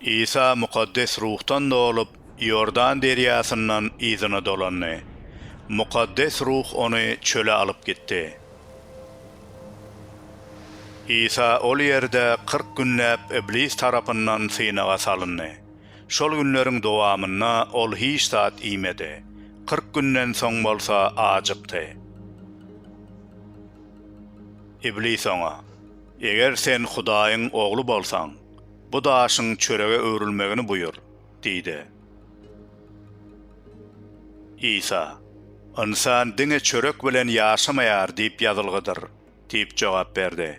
Isa Mukaddes Ruhdan dolup, Iordan derýasyndan yzyna dolandy. Mukaddes Ruh ony çöle alyp gitdi. Isa ol ýerde kyrk günläp Iblis tarapyndan synaga salyndy. Şol günleriň dowamynda ol hiç zat iýmedi. Kyrk günden soň bolsa ajykdy. Iblis oňa, Eger sen Hudaýyň Ogly bolsaň, bu daşyň çörege öwrülmegini buýur diýdi. Isa, Ynsan diňe çörek bilen ýaşamaýar diýip ýazylgydyr diýip jogap berdi.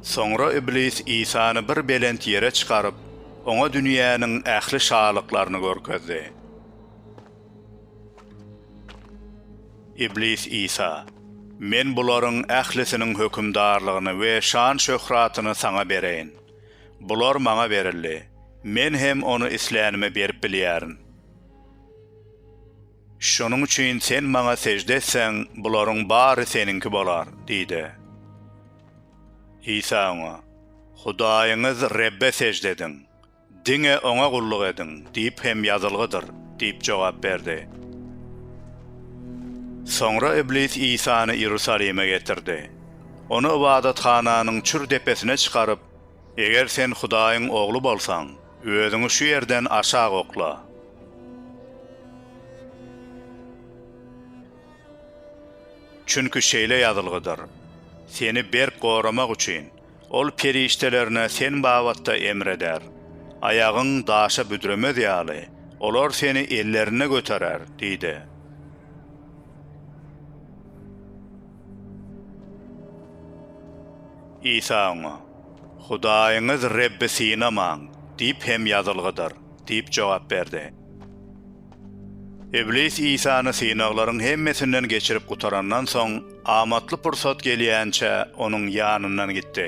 Soňra Iblis Isany bir belent ýere çykaryp, oňa dünýäniň ähli şalyklaryny görkezdi. Iblis Isa, Men bularyň ählisiniň hökümdarlygyny we şan-şöhratyny saňa bereýin. Bular maňa berildi, men hem ony islänime berip bilýärin. Şonuň üçin sen maňa sežde etseň, bularyň bary seniňki bolar diýdi. Isa oňa, Hudaýyňyz Rebbe sežde ediň. Diňe Oňa gulluk ediň! diýip hem ýazylgydyr diýip jogap berdi. Soňra Iblis Isany Iýerusalime getirdi. Ony ybadathananyň çür depesine çykaryp, Eger sen Hudaýyň Ogly bolsaň, özüňi şu ýerden aşak okla. Çünki şeýle ýazylgydyr, Seni berk goramak üçin, Ol perişdelerine sen babatda emr eder. Aýagyň daşa büdremez ýaly, olar seni ellerinde göterer diýdi. Isa oňa, Hudaýyňyz Rebbi synamaň diýip hem ýazylgydyr diýip jogap berdi. Iblis Isany synaglaryň hemmesinden geçirip gutarandan soň, amatly pursat gelýänçä onuň ýanyndan gitdi.